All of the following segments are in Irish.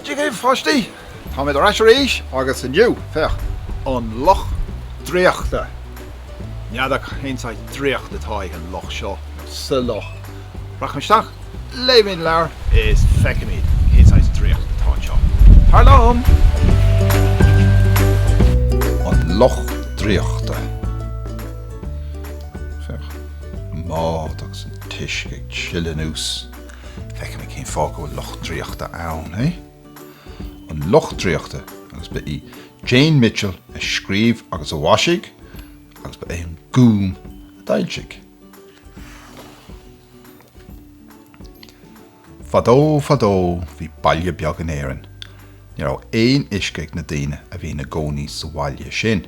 Dia dhaoibh pháistí! Táimid ar ais arís agus inniu, féach, an luch draíochta. N'fheadar cén saghas draíocht atá ag an luch seo, nó sa luch. Rachaimid isteach, léimid an leabhar is feicfimid cén saghas draíocht atá anseo. Tar liom! An luch draíochta. Féach, an mbád agus an t-uisce ag sileadh anuas. Feicimid cén fáth go bhfuil luch draíochta ann, eh? An luch draíochta agus ba í Jane Mitchell a scríobh agus a mhaisigh agus ba é an Gúm a d'fhoilsigh. Fadó, fadó, bhí baile beag in Éirinn. Ní raibh aon uisce ag na daoine a bhí ina gcónaí sa bhaile sin.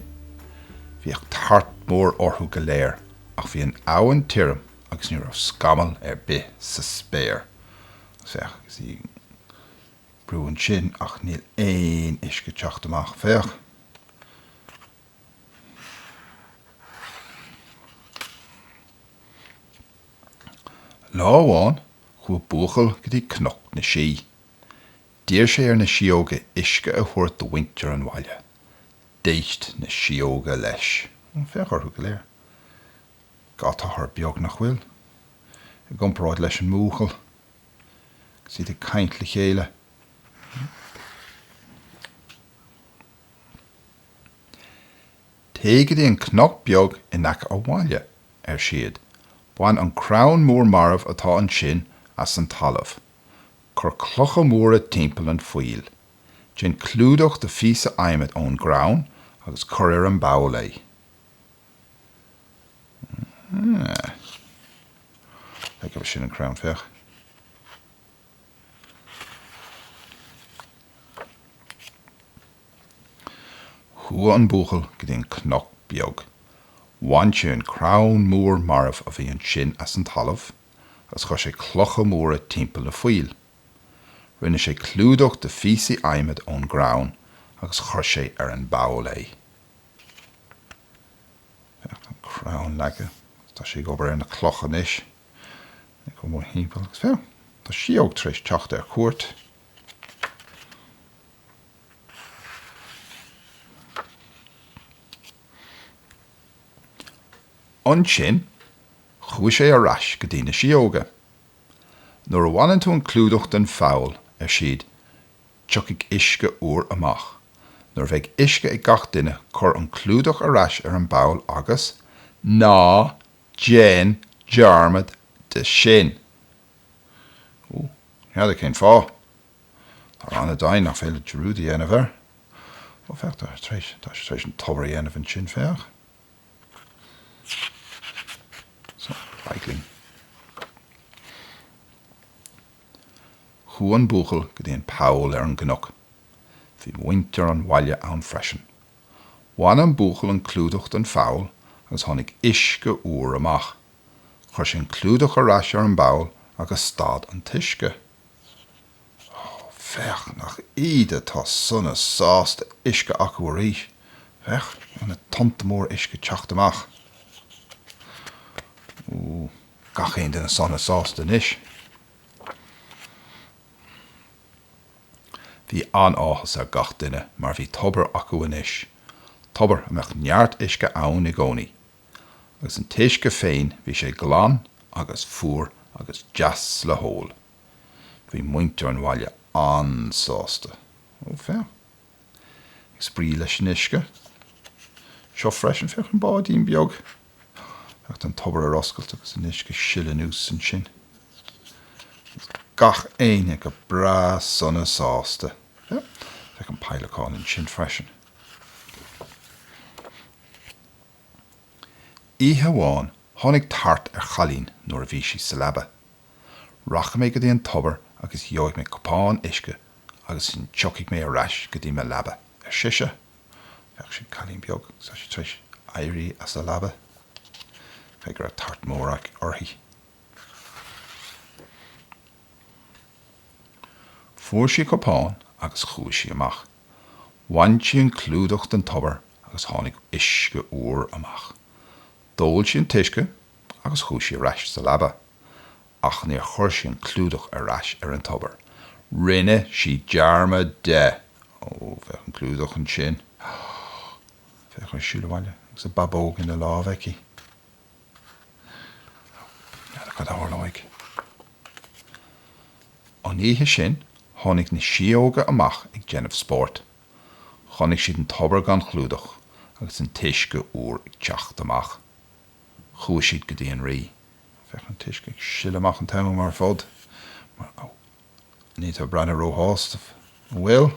Bhíodh tart mór orthu go léir ach bhí an abhainn tirim agus ní raibh scamall ar bith sa spéir. Agus féach, you see, brúnn sé ansin ach níl aon uisce ag teacht amach, féach. Lá amháin chuaidh buachaill go dtí Cnoc na Sí. D'iarr sé ar na síóga uisce a thabhairt do mhuintir an bhaile. D'éist na síóga leis. Féach orthu go léir. Tá siad beag nach bhfuil, i gcomparáid leis an mbuachaill, agus iad ag caint le chéile. Téigh go dtí an cnoc beag in aice an bhaile, ar siad. Bain an crann mór marbh atá ansin as an talamh. Cuir clocha móra timpeall an phoill. Déan clúdach de phíosa adhmaid ón gcrann agus cuir ar an bpoll é. Sin an crann, féach. Chuaidh an buachaill go dtí an cnoc beag. Bhain sé an crann mór marbh a bhí ansin as an talamh agus chuir sé clocha móra timpeall an phoill. Rinne sé clúdach de phíosaí adhmaid ón gcrann agus chuir sé ar an bpoll é. Tá an crann leagtha agus tá sé ag obair ar na clocha anois. Ag dul mórthimpeall agus fiú tá síóg tar éis teacht ar cuairt. Ansin chuaigh sé ar ais go dtí na síóga. Nuair a bhaineann tú an clúdach den pholl, ar siad, tiocfaidh uisce úr amach. Nuair a bheidh uisce ag gach duine, cuir an clúdach ar ais ar an bpoll agus ná Déan dearmad de sin. Ó, ní fheadar cén fáth. Tá seans ann nach féidir dearúd a dhéanamh air. Ó, féach, tá sé tar éis, tá sé tar éis an tobar a dhéanamh ansin, féach. Féach an glinn. Chuaigh an buachaill go dtí an poll ar an gcnoc. Bhí muintir an bhaile ann freisin. Bhain an buachaill an clúdach den pholl agus tháinig uisce úr amach. Chuir sé an clúdach ar ais ar an bpoll agus stad an t-uisce. Ó, féach, nach iad atá sona sásta uisce acu arís. Féach, na tonnta móra uisce teacht amach. Ó, gach aon duine sona sásta anois. Bhí an-áthas ar gach duine mar bhí tobar acu anois, tobar a mbeadh neart uisce ann i gcónaí. Agus an t-uisce féin, bhí sé glan agus fuar agus deas le hól. Bhí muintir an bhaile an-sásta. Ó, féach! Ag spraoi leis an uisce. Seo freisin, féach, an báidín beag. Féach an tobar ar oscailt agus an uisce ag sileadh anuas ansin. Agus gach éinne go breá sona sásta. Féach an peidhleacán ansin freisin. Oíche amháin tháinig tart ar chailín nuair a bhí sí sa leaba. Rachaidh mé go dtí an tobar agus gheobhaidh mé cupán uisce agus ansin tiocfaidh mé ar ais go dtí mo leaba, ar sise. Féach, sin cailín beag, tá sí tar éis éirí as a leaba. Caithfidh go raibh tart mór uirthi. Fuair sí cupán agus chuaigh sí amach. Bhain sí an clúdach den tobar agus tháinig uisce úr amach. D'ól sí an t-uisce agus chuaigh sí ar ais sa leaba. ach níor chuir sí an clúdach ar ais ar an tobar. Rinne sí dearmad de! Ó, féach an clúdach ansin. Féach í ag siúl abhaile agus a babóg ina lámh aici. Ní fheadar cad a tharlóidh. An oíche sin, tháinig na síóga amach ag déanamh spóirt. Chonaic siad an tobar gan chlúdach agus an t-uisce úr ag teacht amach. Chuaigh siad go dtí an rí. Bheadh an t-uisce ag sileadh amach an t-am ar fad mar. Ní tá. Ní bhreathnaíonn róshásta, an bhfuil?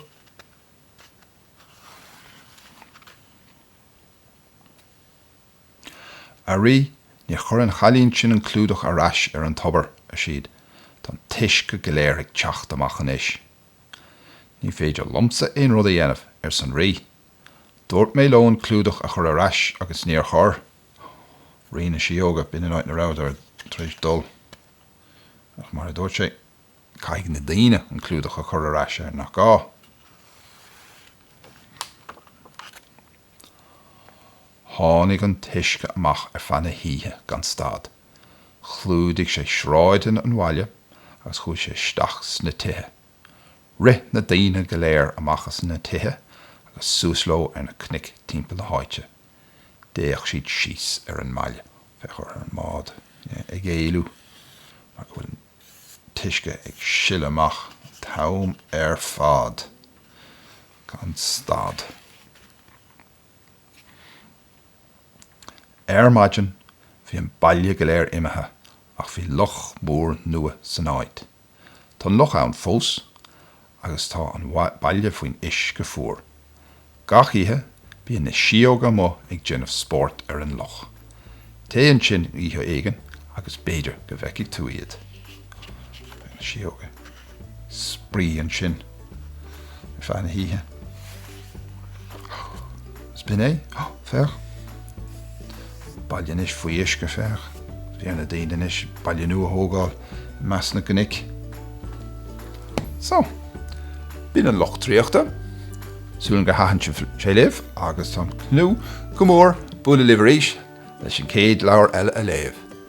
A rí, níor chuir an chailín sin an clúdach ar ais ar an tobar, ar siad. Tá an t-uisce go léir ag teacht amach anois. Ní féidir liomsa aon rud a dhéanamh, arsa an rí. Dúirt mé leo an clúdach a chur ar ais agus níor chuir. Rí na Síóga, b'in an áit ina rabhadar tar éis dul. Ach mar a dúirt sé, caithfidh na daoine an clúdach a chur ar ais air, nach gá? Tháinig an t-uisce amach ar feadh na hoíche gan stad. Chlúdaigh sé sráideanna an bhaile agus chuaigh sé isteach sna tithe. Rith na daoine go léir amach as na tithe agus suas leo ar na cnoic timpeall na háite. D'fhéach siad síos ar an mbaile. Féach ar an mbád ag éalú mar go bhfuil an t-uisce ag sileadh amach an t-am ar fad gan stad. Ar maidin bhí an baile go léir imithe ach bhí loch mór nua san áit. Tá an loch ann fós agus tá an baile faoin uisce fuar. Gach oíche, bíonn na síóga amuigh ag déanamh spóirt ar an loch. Téigh ansin oíche éigin agus b'fhéidir go bhfeicfidh tú iad. Bíonn na síóga ag spraoi ansin. ar feadh na hoíche. Sin é. Féach. Baile anois faoi uisce, féach. Fearr do na daoine anois baile nua a thógáil i measc na gcnoic. So, b'in An Loch draíochta. Súil agam gur thaitin sé libh agus táim ag tnúth go mór le bualadh libh arís leis an gcéad leabhar eile a léamh.